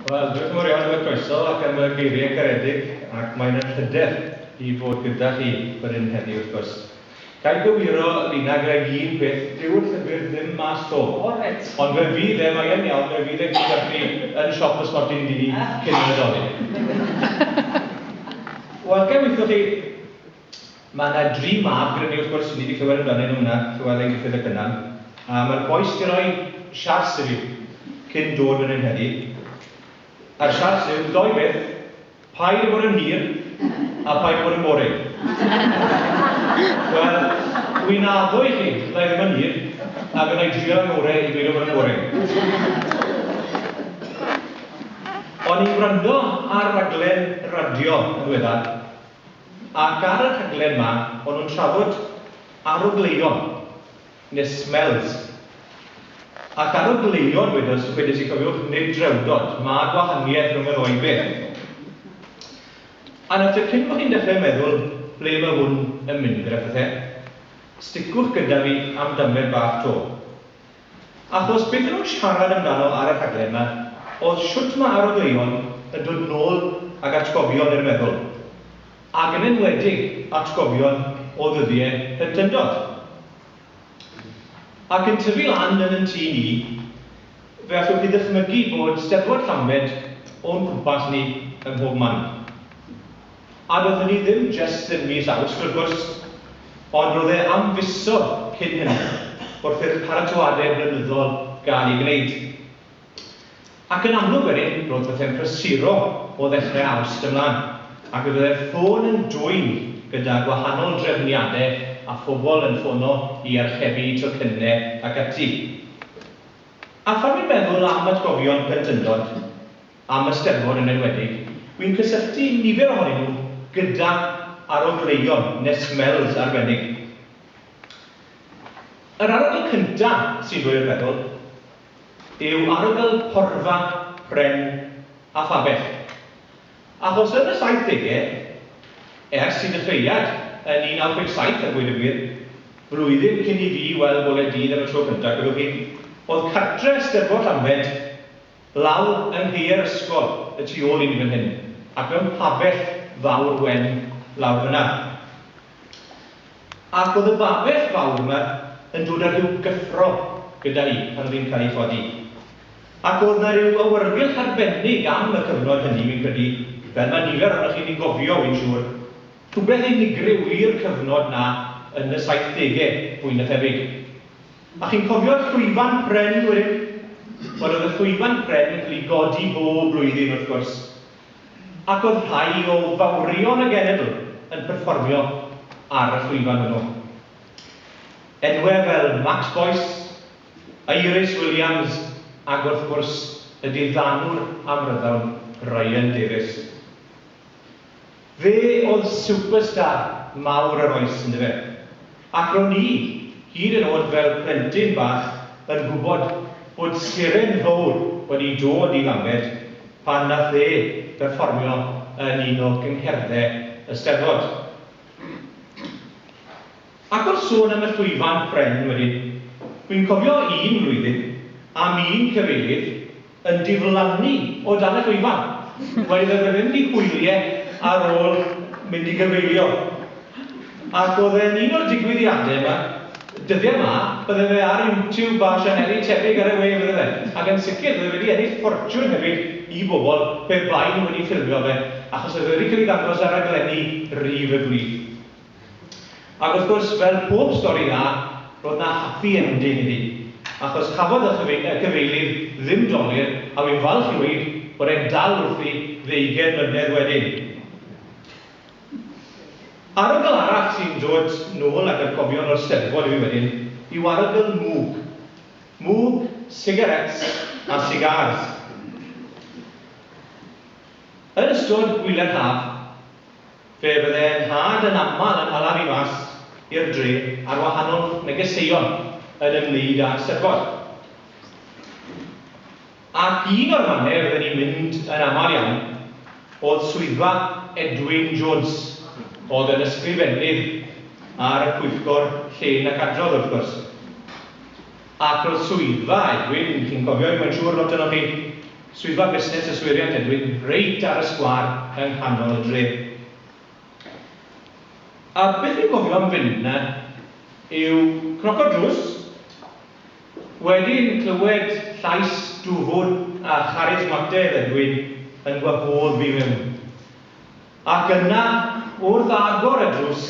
Wel, diolch yn fawr iawn am y croeso ac am y geiriau caredig, ac mae'n anrhydedd i fod gyda chi fan hyn heddi wrth gwrs. Ga i gywiro, Lina, gyda i un peth, dyw'r llyfr ddim mas 'to. O, reit. Ond fe fydd e, mae e'n iawn, fe fydd e gyda chi yn siop y Sporting Dee cyn y Nadolig. Wel, ga i weithio chi? Mae 'na dri mab gyda ni wrth gwrs, wi 'di di clywed amdanyn nhw yna, Llewelyn, Gruffydd a Cynan. A mae'r bois 'di rhoi siars i fi cyn dod fan hyn heddi. A'r siars yw, doi beth, paid a bod yn hir a paid a bod yn boring. Wel, wi'n addo i chi, fydda i ddim yn hir, a fy' 'na i drio 'y ngore i beidio bod yn boring. O'n i'n gwrando ar raglen radio yn ddiweddar, Ac ar y rhaglen 'ma, o'n nhw'n trafod arogleuon, neu smells. Ac arogleuon, wedodd, wedes i, cofiwch, nid drewdod, mae gwahaniaeth rhwng y ddou beth. A nawr te, cyn bo chi'n dechrau meddwl ble mae hwn yn mynd gyda phethe, sticwch gyda fi am damed bach 'to. Achos beth o'n nhw'n siarad amdano ar y rhaglen 'ma oedd shwt ma' arodeuon yn dod nôl ag atgofion i'r meddwl, ag yn enwedig atgofion o ddyddie plentyndod. Ac yn tyfu lan yn yn tŷ ni, fe allwch chi ddychmygu bod Steddfod Llambed o'n cwmpas ni ym mhob man. A doedd hynny ddim jest yn mis Awst, wrth gwrs, ond roedd e am fisoedd cyn hynny, wrth i'r paratoadau blynyddol gael eu gwneud. Ac yn amlwg wedyn, roedd pethau'n prysuro o ddechrau Awst ymlaen, ac fe fyddai'r ffôn yn dwyn gyda gwahanol drefniadau a phobl yn ffono i archebu tocynnau ac ati. A phan wi'n meddwl am atgofion plentyndod, am y Steddfod yn enwedig, wi'n cysylltu nifer ohonyn nhw gyda arogleuon neu smells arbennig. Yr arogl cynta sy'n dod i'r feddwl yw arogl porfa, pren a phabell. Achos yn y saithdegau, ers i ddechreuad yn 1957 a gweud y gwir, flwyddyn cyn i fi weld bore dydd am y tro cynta, cofiwch chi, oedd cartre Steddfod Llambed Lawr yng ngheuer ysgol y tu ôl i ni fan hyn, ac mewn pabell fawr wen lawr fyna. Ac oedd y babell fawr yma yn dod â rhyw gyffro gyda hi pan oedd hi'n cael ei chodi. Ac oedd 'na ryw awyrgylch arbennig am y cyfnod hynny, fi'n credu, fel mae nifer ohonoch chi ni'n gofio, wi'n siŵr, rhywbeth unigryw i'r cyfnod 'na yn y saithdege, fwy na thebyg. A chi'n cofio'r llwyfan pren, yn wir? Wel, oedd y llwyfan pren yn cael ei godi bob blwyddyn, wrth gwrs, ac oedd rhai o fawrion y genedl yn perfformio ar y llwyfan hwnnw. Enwau fel Max Boyce, Iris Williams ac, wrth gwrs, y diddanwr amryddawn Ryan Davies. Fe oedd superstar mawr yr oes yndyfe? Ac ro'n i, hyd yn o'd fel plentyn bach, yn gwbod bod seren fowr wedi dod i Lambed pan nath e berfformio yn un o gyngherdde y Steddfod. Ac wrth sôn am y llwyfan pren wedyn, wi'n cofio un flwyddyn, am un cyfeirydd yn diflannu o dan y llwyfan, wedi dod wedyn i hwylie ar ôl mynd i gyfeirio. Ac o'dd e'n un o'r digwyddiade 'ma, dyddie 'ma, bydde fe ar YouTube a sianeli tebyg ar y we bydde fe, ac yn sicr bydde fe 'di ennill ffortiwn hefyd i bobl pe bai nhw wedi ffilmio fe, achos o'dd e wedi cael ei ddangos ar raglenni rydd y gwlith. Ac wrth gwrs, fel pob stori dda, roedd 'na happy ending iddi, achos chafodd y cyfeilydd ddim dolur, a wi'n falch i weud bod e'n dal wrthi ddeugain mlynedd wedyn. Arogl arall sy'n dod nôl ag atgofion o'r Steddfod i fi wedyn yw arogl mwg. Mwg, sigaréts a sigars. Yn ystod gwyliau'r haf, Fe fydde nhad yn aml yn hala fi mas i'r dre ar wahanol negeseuon yn ymwneud â Eisteddfod. Ac un o'r mannau fydden ni'n mynd yn aml iawn oedd swyddfa Edwyn Jones, oedd yn ysgrifennydd ar y Pwyllgor Llên ac Adrodd, wrth gwrs. Ac roedd swyddfa Edwyn, chi'n cofio hi mae'n siŵr, lot ohonoch chi, Swyddfa Busnes y Swyriant Edwin reit ar y sgwâr yng nghanol y dre. A beth fi'n cofio am fynd 'na yw cnoco drws, wedyn clywed llais dwfwn a charismateg Edwin yn gwahodd fi mewn. Ac yna, wrth agor y drws,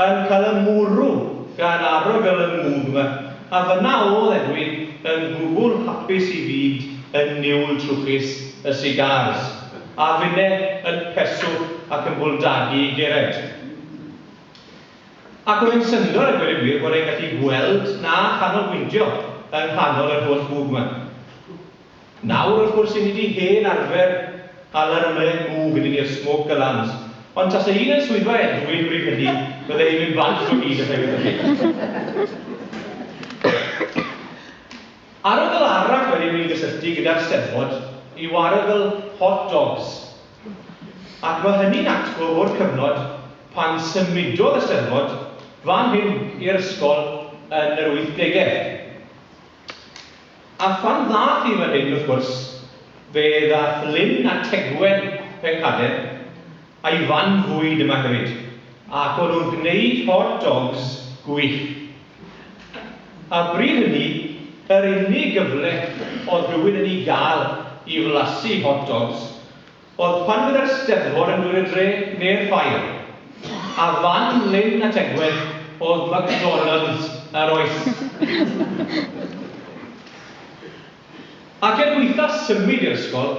yn cael y mwrw gan arogl y mwg 'ma, a fan'na o'dd Edwin yn gwbwl hapus i fynd yn niwl trwchus y cigars, a finne yn peswch ac yn bwldagu i gered. Ac o'dd e'n syndod a gweud y gwir bod e'n gallu gweld na chanolbwyntio yng nghanol yr holl fwg 'ma. Nawr wrth gwrs i ni 'di hen arfer hala'r mren bŵ gyda ni'r smoke alarms, ond tase un yn swyddfa Edwin bryd hynny bydde hi'n mynd bant o hyd os aeth yn fyw. Ar y ddal arall wedyn ni'n gysylltu gyda'r Steddfod i warogl hot dogs, ac mae hynny'n atgof o'r cyfnod pan symudodd y Steddfod fan hyn i'r ysgol yn yr wythdegau. A phan ddaeth i fan hyn, wrth gwrs, fe ddaeth Lyn a Tegwen Pencader a'i fan fwyd yma hefyd, ac o'n nhw'n gwneud hot dogs gwych. A bryd hynny, yr unig gyfle oedd rhywun yn ei gael i flasu hot dogs, Oedd pan fydde'r Steddfod yn dod i'r dre, neu'r ffair. A fan Lyn a Tegwedd oedd McDonalds yr oes. Ac er gwaetha symud i'r ysgol,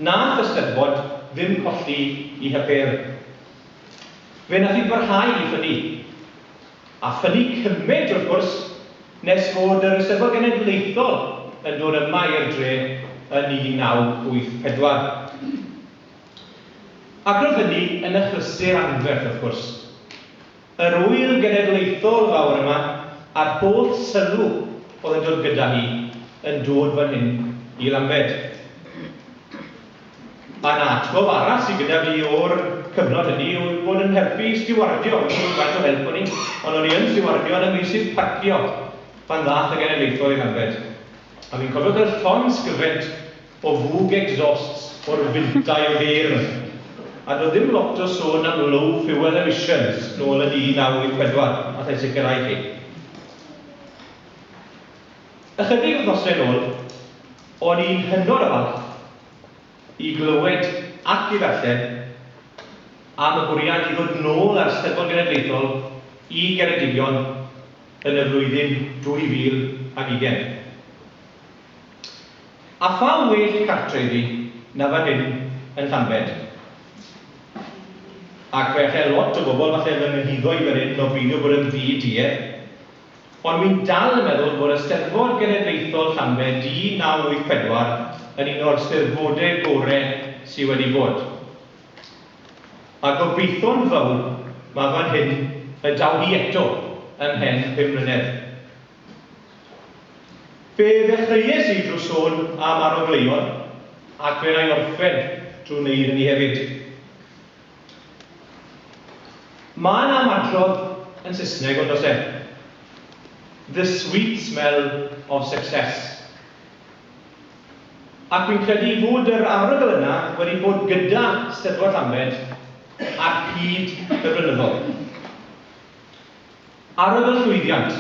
nath y Steddfod ddim colli 'i hypêl. Fe nath 'i barhau i ffynnu. A ffynnu cymaint wrth gwrs, nes fod yr Eisteddfod Genedlaethol yn dod yma i'r dre yn 1984. Ac roedd hynny yn achlysur anferth wrth gwrs. Yr ŵyl genedlaethol fawr yma, a'r holl sylw oedd yn dod gyda hi, yn dod fan hyn i Lambed. Un atgof arall sydd gyda fi o'r cyfnod hynny yw bod yn helpu i stiwardio, wedi bod yn faint o help bo' ni, ond o'n i yn stiwardio yn y meysydd parcio pan ddaeth y genedlaethol i Llanbed, a fi'n cofio cael llongsgyfent o fwg exhausts o'r fintau o geir 'na. A doedd ddim lot o sôn am low fuel emissions nôl yn 1984, allai sicrhau chi. Ychydig wythnosau yn ôl, o'n i'n hynod o falch i glywed ac i ddarllen am y bwriad i ddod nôl â'r Steddfod Genedlaethol i Geredigion yn y flwyddyn 2020. A pha well cartre iddi na fan hyn yn Llanbed? Ac fe allai lot o bobl falle fy nghyhuddo i fan hyn o beidio bod yn ddi-duedd. Ond wi'n dal yn meddwl fod y Steddfod Genedlaethol Llanbe du 984 yn un o'r Steddfode gore sy wedi bod. A gobeitho'n fawr ma fan hyn y daw hi eto ymhen pum mlynedd. Fe ddechreues i drw sôn am Arogleion ac fe 'na i orffen drw neud hynny hefyd. Mae 'na ymadrodd yn Saesneg ond does e? The sweet smell of success. Ac fi'n credu fod yr arogl yna wedi bod gyda 'Steddfod Llambed ar hyd y blynyddoedd. Arogl llwyddiant.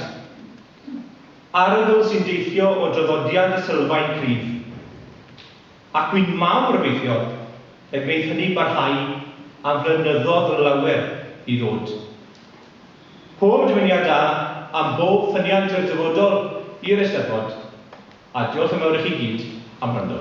Arogl sy'n deillio o draddodiad y Sylfaen Cryf. Ac bu'n mawr obeithio y gwneith hynny barhau am flynyddoedd lawer i ddod. Pob dymuniad da am bob ffyniant i'r dyfodol i'r Eisteddfod, a diolch yn fawr i chi gyd am wrando.